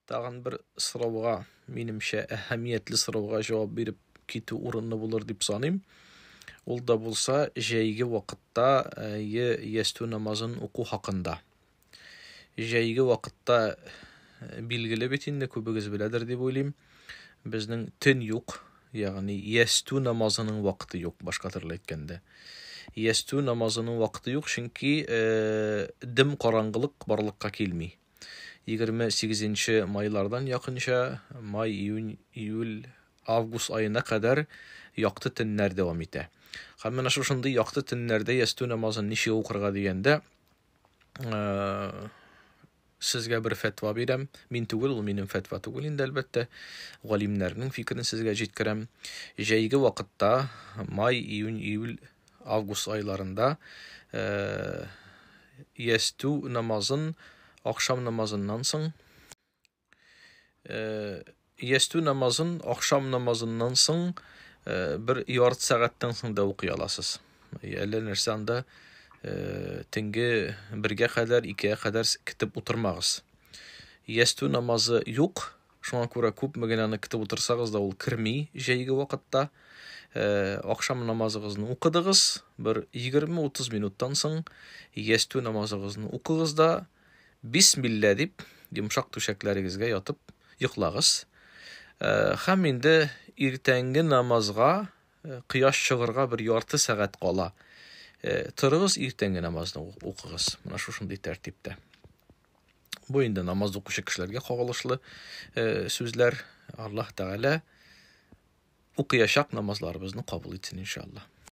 Тагын бер сорауга, минемчә, әһәмиятле сорауга җавап биреп китү урынлы булыр дип саныйм. Ул да булса, җәйге вакытта е ястү намазын уку хакында. Җәйге вакытта билгеле бит инде күбегез беләдер дип уйлыйм. Безнең төн юк, ягъни ястү намазының вакыты юк, башка төрле әйткәндә. Ястү намазының вакыты юк, чөнки дым караңгылык барлыкка килми. 28 нче майлардан якынча май, июнь, июль, август аена кадәр якты төннәр дәвам итә. Һәм менә шушындый якты төннәрдә ястү намазын ничек укырга дигәндә, э, сезгә бер фәтва бирәм. Мин түгел, ул минем фәтва түгел инде әлбәттә. Галимнәрнең фикерен сезгә җиткерәм. Җәйге вакытта, май, июнь, июль август айларында э, ястү намазын ахшам намазыннан соң э, ястү намазын ахшам намазыннан соң э, бер ярты сәгатьтән соң да укый аласыз әллә нәрсә анда төнге бергә кадәр икегә кадәр китеп утырмагыз ястү намазы юк Шуңа күрә күпме генә аны көтеп утырсагыз да ул керми җәйге вакытта. Э, Акшам намазыгызны укыдыгыз, бер 20-30 минуттан соң ястү намазыгызны укыгыз да бисмилла дип йомшак түшәкләрегезгә ятып йоклагыз. Э, Һәм инде иртәнге намазга э, кояш чыгырга бер ярты сәгать кала. Э, Торыгыз иртәнге намазны укыгыз. Менә шушындый тәртиптә. Бу инде намаз укучы кешеләргә кагылышлы э, сүзләр. Аллаһ Тәгалә укыячак намазларыбызны кабул итсен иншаллаһ.